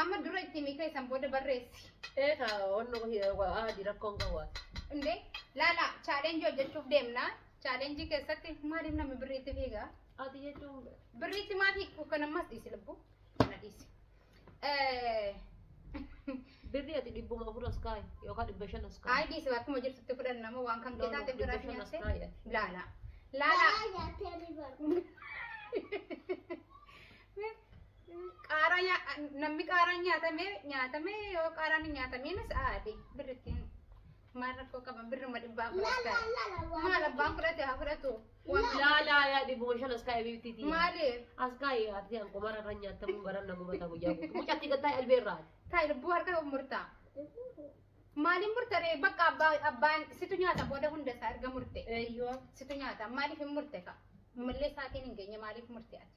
Amma dura itti himi ka'e san booda barreessi. Ee ka wanno ahadi rakkoon kan waati. Indee laala challenge hojjechuuf deemna. Challenge keessatti maaliif namni birriitti fiiga? Ati jechuun bira. Birriitti maa fiigdu kan ammas dhiisi lubbuu. Kana dhiisi. Birri ati dhibbuma afur as kaa'i yookaan dhibba shan as kaa'i. Ayi dhiisi akkuma jirtutti fudhan nama waan kan kee taate biraa fi nyaatte. Laala. Laala. Qaaraa nyaa- namni qaaraan nyaatame nyaatame yoo qaaraan hin nyaatamiinis aadi birrittiin maal rakkoo qaba birruma dhibbaa fudhatta maal abbaan fudhate haa fudhatu Waan- Laa laa laa dhibbuma shan as kaa'e biifti tii. maaliif As kaa'e ati an qomara irra nyaatamu garan na gubata guyyaa guutuu. Mucatti gattaa albee irraa. taa'e lubbuu harka murtaa maaliin murtaree bakka abbaa abbaan situ nyaata booda hunda isaa erga murte Eeyyoo. situ nyaata maaliif hin murte ka mallee isaatiin hin geenye maaliif murte ati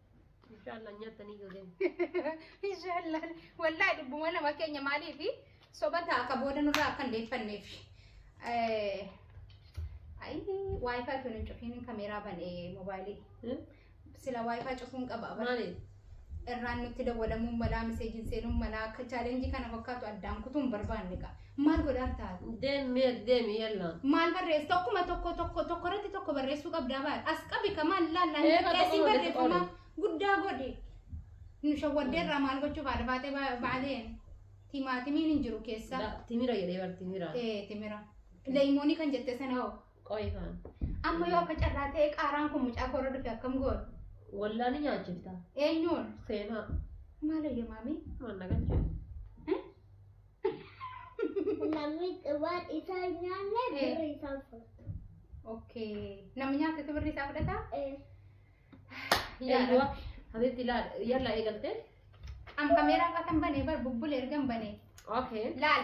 Inshallah nyaatanii yoo deemu. Inshallah. Wallahi dubbuma nama keenya maaliifi sobata akka booda nurraa akka hin deeffanneef. Eh, Ayi wifi tun hin cufiin kameeraa banee moobaayilii. Hmm? Sila wifi cufuun qaba. bara. Maali? Irraan nutti dawwalamuun malaa miseejiin seenuun malaa akka chaalenjii kana fakkaatu addaan kutuun barbaanne qaba. Maal godhaartaa? Deem meer deemi yalla. Maal barreessu? Tokkuma tokko tokko tokko irratti tokko barreessuu qabdaa baal. As qabi ka maal laallaa Ee, hin tokko qixxeessin tokko irratti barreeffama qoodi. guddaa godhi. Nu shawwaddee irraa maal gochuuf haadha baatee ba- baaleen timaatimiin hin jiru keessa. Da- Timira jedhee bar timira. Ee timira. Leeyimoonii kan jette sana hoo. Qoyi kaan. Amma yoo akka carraa ta'e qaaraan kun mucaa koora dhufe akkam goon? Wallaa ni nyaachifta. Eenyuun? Seenaa. Maal eeyyamaami? Maal na galchee? Namni waan isaa hin nyaanne Eh. birri isaa fudhata. Okay. Namni nyaatetu birri isaa fudhata? Eh, Yaada. Habiibti laal yalla eegalte. Am kameeraan qasan bane bar bubbule ergan bane. Okay. Laal.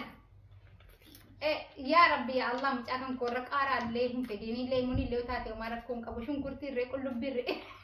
Eh, yaa rabbi yaa Allah mucaa kan koorra qaaraallee hin fedhiinillee munillee yoo taate homaa rakkoon qabu shunkurtiirree qullubbiirree.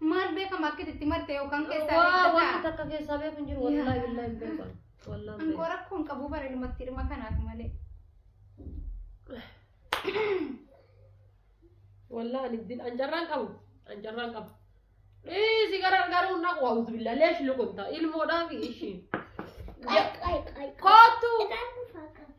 Maal beekama akkit itti marte yoo kan keessaa Waa beekta wanti ta'a. takka keessaa beeku hin jiru wallaahi billaahi hin beeku. ani. Wallaahi hin Angoo beeku. rakkoo hin qabu bara ilmatti dhuma kanaaf malee. Wallaahi ani din anjarraan qabu anjarraan qabu. Dhiisi gara garuu na waawutu billaahi leesh lukunta ilmoodhaa fi ishii. Ay, ay, ay. Kootu. Itaan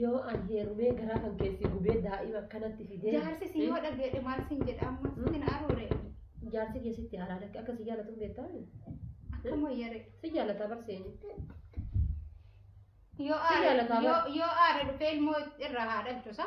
Yoo an heerumee garaa kan keessi gubee daa'ima akkanatti fidee. Jaarsi si yoo dhageedhe maal siin jedha amma sitti na aruure. Jaarsi keessatti haaraa lakki akka si jaalatu hin beektaa? Akka moyyare. Si jaalataa barseeni. Yoo Si aare jaalataa yoo yoo aare dhufee ilmoo irraa haa dhalchu sa.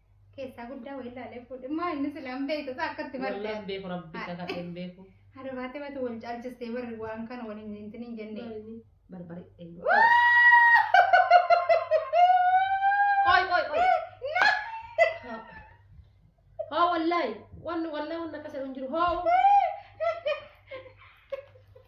Keessaa guddaa wayii ilaalee fuudhe. Maa inni sila hin beektu isaa akkatti Wallaan martee. beeku rabbi isa kadhee hin beeku. Haadha baatee baatu wal caalchistee barri waan kana wal hin hintin hin jenne. Maali? Barbare. Qoy qoy qoy. Hoo wallaahi. Wanni wallaahi wanni akkas jedhu hin jiru. Hoo.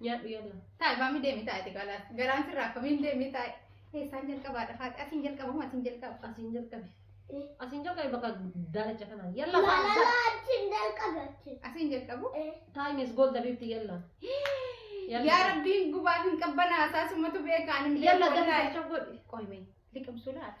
Nyaadhu yalla. Taa'e maamii deemi taa'e xiqqaadha. Garaan sirraa akkamiin deemi taa'e. Eessaan jalqabaadha faati. Asiin jalqaba moo asiin jalqaba? Asiin jalqabe. Asiin jalqabe bakka daalacha kanaan. Yalla faati. Malala achiin jalqabe achiin. Asiin jalqabu. Eh. Time is gold abibti yalla. Yalla. Yaa rabbiin gubaa hin qabbanaa taasumatu beekaan hin Yalla beeku dafii wallaahi. jecha godhi. Qoy mee liqimsuu laata?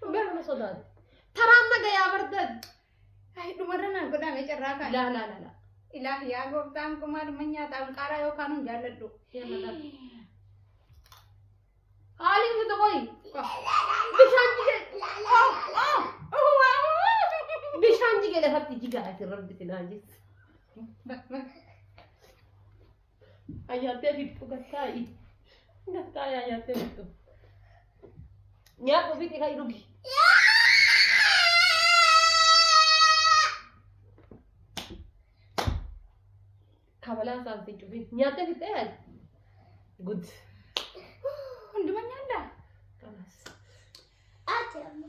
Dhugaa nama sodaatu. Taraan naga yaa bardan. Ay dhumarra naa godhame carraa kan. Laa laa laa laa. Ilaah yaa gooftaan kumaa dhuma nyaataan qaaraa yookaan hin jaalladhu. Haali miti qoyi. Bishaan jige. Bishaan jige lafatti jigaa asirratti finaa jis. Bak bak. Ayyaantee fixxu gattaayi. Gattaayi ayyaantee fixxu. Nyaadhu fixi ka'i dhugi. Kabalaa isaan si cufi. Nyaattee fixxee yaali. Good. Hunduma nyaadhaa. Kanas. Ati amma.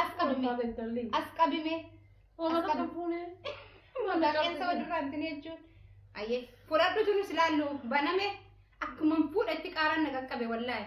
As qabi mee. As qabi mee. As qabi. Maqaqeessa walirraa hin tine jechuun. Ayyee fudhadhu tunus ilaallu baname akkuma fuudha itti qaaraan na qaqqabe wallaahi.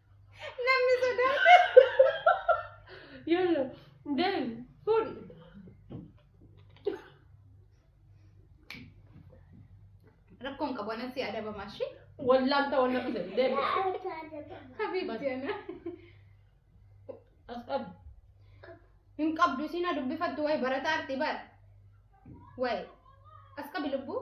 Namni sodaate. Yalla. Deem. Fuudhi. Rakkoon qabu anan si adabamaa ishee. Wallaan ta'uu na fide. Deem. Habiibti ana. As qabi. Hin qabdu isiin haa dubbifattu wayi barataa arti bar. Wayi. As qabi lubbuu.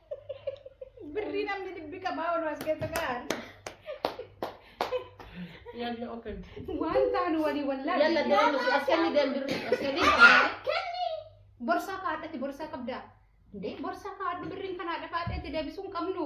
Birrii namni dhibbi qabaa ol as keessa kaa'an. Yalla open. Waan taanu walii wallaa. Yalla deemu as kenni deemu birri as kenni. Kenni. Borsaa kaadhati borsaa qabdaa. Indee borsaa kaadhu birriin kanaa dhafaadheetti deebisuu hin qabnu.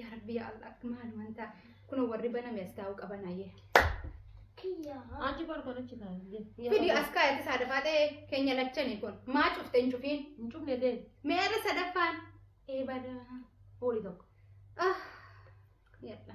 Yaa Rabbi yaa Allah maal wanta kun warri baname as taa'uu qaban hayyee. Achi barbaada achi taa'e. Fidi as kaayate saadafaa ta'e keenya lachani kun maa cufte hin cufiin Hin cufne deemu. meerra sadaffaan eebada. Horii tokko. Ah yadha.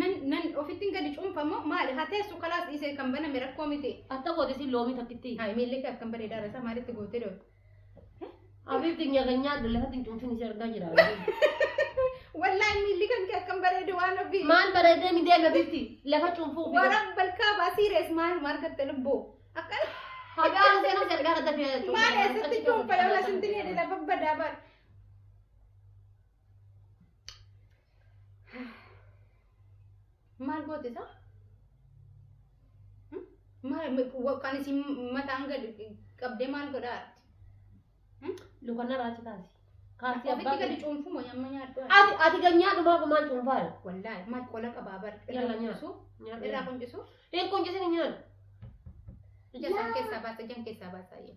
Nan nan ofittiin gadi cuunfa moo maali? Haa teessu kalaas dhiisee kan baname rakkoo miti. Atta gooti si loomii takkitti. Haa miilli kee akkam bareedaa irra isaa maalitti gootee doo? Abiitti nyaata nyaadhu lafatti hin cuunfin si argaa jira. Wallaahi miilli kan kee akkam bareedu waan ofii. Maal bareedee mi deeme bitti lafa cuunfuu fi. Waraan balkaa baasii rees maal maal gatte lubbuu? Akkana. Hagaa haasee haasee argaa kan tafe. Maal eessatti cuunfa yoo lasinti ni lafa badaa baadha. maal goote isaa kan isin mataan gad qabdee maal godhaa arti Lukanna raati kaasi. Kaasi ofitti abbaa. gadi cuunfumo nyamma nyaadhu Ati ati ganyaa dhumaa gumaan cuunfaa. wallaahi maal qola qabaa bar Yalla irraa nyaadhu. quncisuu irraa quncisuu Hin quncisini nyaadhu. ija isaan keessaa baasa ijaan keessaa baasaa jee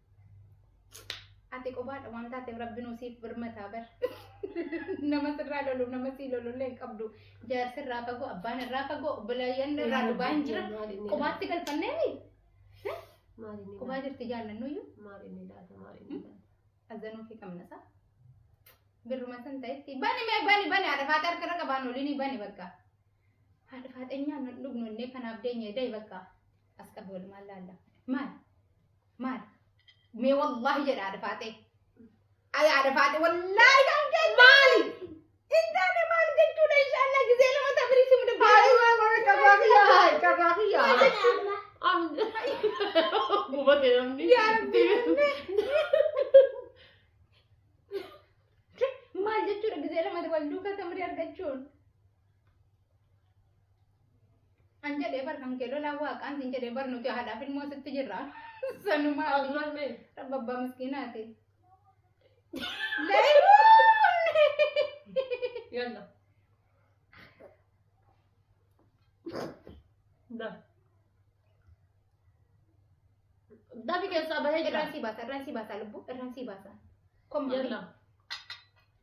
Ati qobaadha waan taateef rabbinuu siif birmataa bar. Nama sirraa lolu nama sii lolullee hin qabdu. Jaarsi irraa fagoo abbaan irraa fagoo obboleeyyan irraa dhugaa hin jira. Qobaatti galfanneemi. Qobaa jirti jaallannuyyuu. Maaliin laata maaliin laata. Azanuu fi qabnasa. Birruma san ta'etti bani mee bani bani haadha faata harka irra qabaan olini bani bakka. Haadha faata nyaan dhugnu innee kanaaf deenyee da'i bakka. As qabi walumaan laalla. Maal? Maal? Mee wallaahi jedha haadha faaxee. Ay haadha faaxee wallaahi kan kee maali? Hin taane maal jechuudha inshaallah gizee lama tabirii simu Haadha dubbii. waan warra carraa kiyyaa haay carraa kiyyaa. Gubate namni. Yaa Rabbi. Maal jechuudha gizee lama wal duukaa tamirii argachuun? An jedhee bar kan kee lolaa waaqaan sin jedhee bar nuti haadhaaf ilmoo sitti jirra. Sanumaa As maal mee? rabba abbaa miskiinaati. Yalla. Da. Dafi keessaa bahee jira. Irraan sii baasa irraan sii baasa lubbuu irraan sii baasa. Kommaa. Yalla.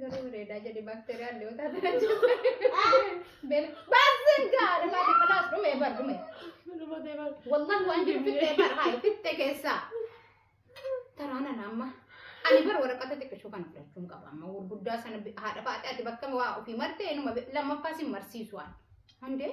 Garuu bareedaa jedhi baakteeriyaa illee yoo taate kan jaalladhu. Beela. Baaseen gaadha baate kalaas dhume bar dhume. Wallan waan jiru fittee bar hayi fittee keessaa. Taraana naamma. Ani bar waraqata xiqqishuu kana fudhachuun qaba amma gurguddaa sana bi- haadha faate ati bakka waa ofii martee inuma bi- lammaffaa sin marsiisu waan. Hundee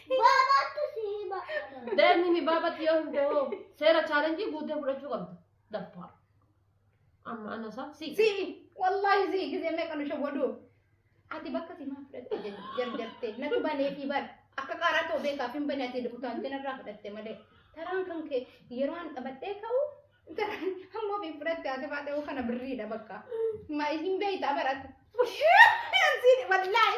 Baabaatti si hima. Deemni mi baabatti yoo himte hoo seera chaalenjii guuttee fudhachuu qabda. Daffaa. Amma ana isaa si. Si wallaahi si gisee meeqa nu shawwaduu. Ati bakka si maa fudhatte jarjartee natu banee fi bar akka qaaraa ta'u beekaaf hin bane ati utaaltee narraa fudhatte malee taraan kan kee yeroo an qabadhee ka'u Ammoo fi fudhatte ati baatee oo kana birriidha bakka. Ma isin beeytaa barata. Siin wallaahi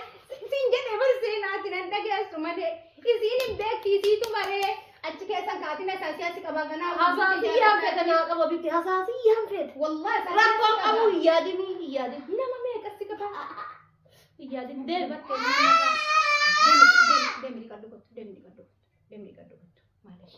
siin jedhee bar seenaati nan dhageessu malee isiin hin beekti isiitu maree achi keessan kaatina isaasii achi qabaa ganaa. Hasaasiyyaan fete naa qaba bitti hasaasiyyaan fete. Wallaahi isaa Rakkoon qaba. qabu hin yaadinii hin yaadin. Nama meeqa si qaba? Hin yaadin deema. Deemi deemi deemi dhiqadhu kottu deemi dhiqadhu kottu deemi dhiqadhu kottu maalish.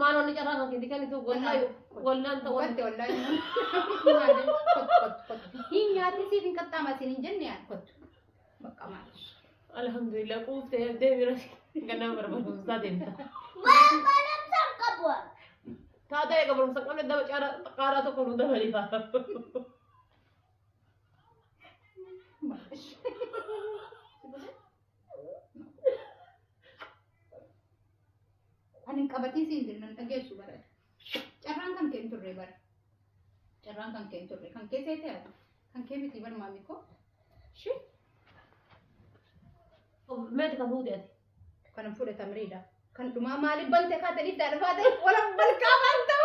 Maal wanni carraa kan keetii kennitu wallahi wallaan ta'uu. Kotte wallahi. Hin nyaati siif hin qaxxaama siin hin jenne yaa kottu. Bakka maal. Alhamdulillah quuftee yaddee bira gannaa barbaaduu isaa deemta. Waan barumsaan qabu. Taata eega barumsa qabne daba qaaraa tokko nu dabalifa. Ani hin qabatiin siin jedhu nan dhageessu bara. Carraan kan kee hin turre bara. Carraan kan kee hin turre. Kan kee seetee ati. Kan kee miti bara maamii koo. Shi Meeti kan fuute ati. kan hin fudhatamriidha. Kan dhumaa maaliif bante kaate dhiddaa dhufaate wala balqaa maal ta'u.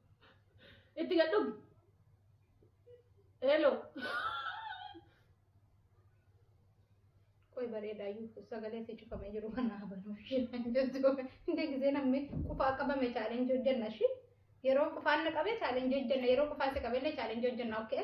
Itti gad dhugi. Hello. Qoy bareedaa iyyuu sagalee si cufamee jiru kana habanuu ishee jettu. Hindi gisee namni qufaa qabame chaalenjii hojjenna shi. Yeroo qufaan na qabe chaalenjii hojjenna. Yeroo qufaa si qabellee chaalenjii hojjenna. Okay?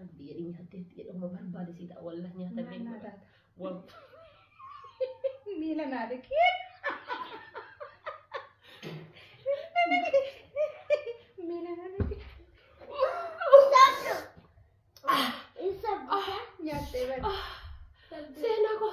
Rabbi jedhii nyaattee itti jedhama barbaade si ta'a wallah nyaata Maal beekudha. nyaata? Waan Miila naa dhiqee. Miila naa dhiqee. Nyaattee bari. seenaa koo.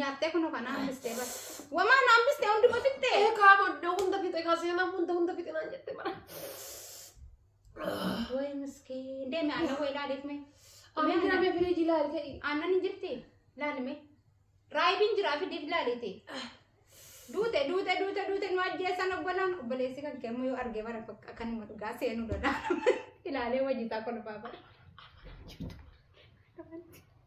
Nyaattee kunoo kana hambistee bara. Wamaa na hambistee hunduma fixxee. Ee kaa boddoo hunda fixe kaa seenaa hunda hunda fixe naan jette bara. Way miskiin. Deemi aannan way laaleef mee. Ani deemee firiiji ilaali ta'e. Aannan hin jirti. Laali mee. Raayibiin jiraa fi deebi laaleete. Duute duute duute duute nu ajjeessan obbolaan obboleessi kan kee ammoo yoo argee bara bakka kanuma dhugaa seenuu danda'a. Ilaalee wajjitaa kolfaa bara.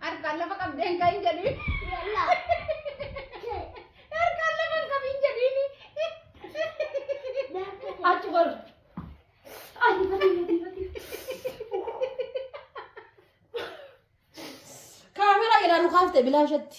Harkaan lafa qabdeen kan hin jedhiin. Harkaan lafa hin qabin jedhiin. Achi bar. Achi bar. Kaameraa jedhaan kaafte bilaashatti.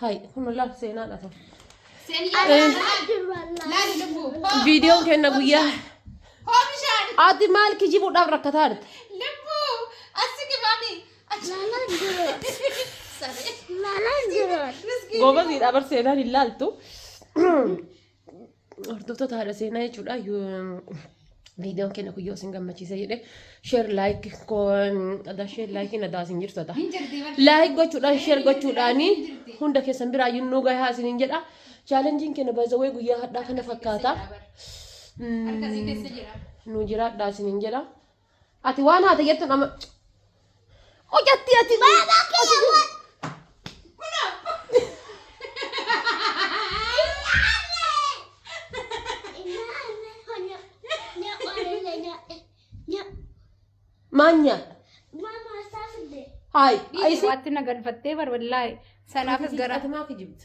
Hay kun laal seenaa dhafa. Viidiyoon kenna guyyaa. Ati maal kijibuudhaaf rakkataa jirta? Goobasiidha bar seenaan hin laaltu. Hordoftoota haadha seenaa jechuudha. Viidiyoon keenya kun yoo isin gammachiise jedhe sheer laayik adaa sheer laayikiin adaa isin jirtu adaa. Laayik gochuudhaan sheer gochuudhaan hunda keessan biraa yunnuu gahaa isiniin jedha. Chaalenjiin keenya baay'ee guyyaa hadhaa kana fakkaata. Nuu jiraadhaa isiniin jedha. Ati waan haata jettu nama. Hojjatti ati. Baabaa kee Maal nyaadha? Haay. Waatti na galfattee bar wallaahi. Sanaafis gara. Ati maa kijibda?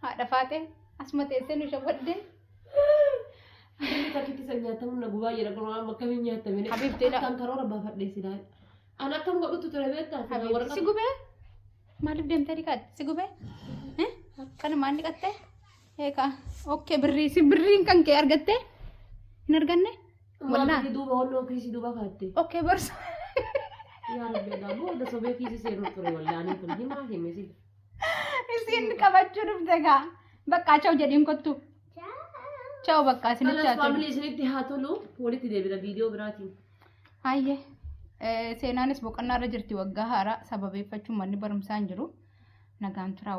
Haadha faaxee asuma teessee nu shawwaddee. Inni takkitti san nyaatamu na gubaa jedha kun waan akkamiin nyaatamine. Habiibti na- Akkaan karoora baafadhee silaa. An akkam godhutu ture beektaa? Silaa Habiibti waraqaa- si gubee? Maaliif deemtee dhiqatte? Si gubee? Eh? Kanumaan dhiqatte? Eegaa. Okkee birrii si birriin kan kee argattee? Hin arganne? Waan Wallaa. birrii duuba walloo kiisii duuba kaatte. Okkee borsa. Yaa rabbi egaa booda sobee kiisii seenuu ture wallaanii kun himaa hime sila. Isiin qabachuu dhufte gaa. Bakka cha'u jedhiin kottu. Cha'u bakka isinitti Kanas haa tolu. faamilii isinitti haa tolu. Walitti deebina viidiyoo biraatiin. Hayyee. Eh, Seenaanis boqonnaa irra jirti waggaa haaraa sababeeffachuun manni barumsaa hin jiru. Nagaan turaa.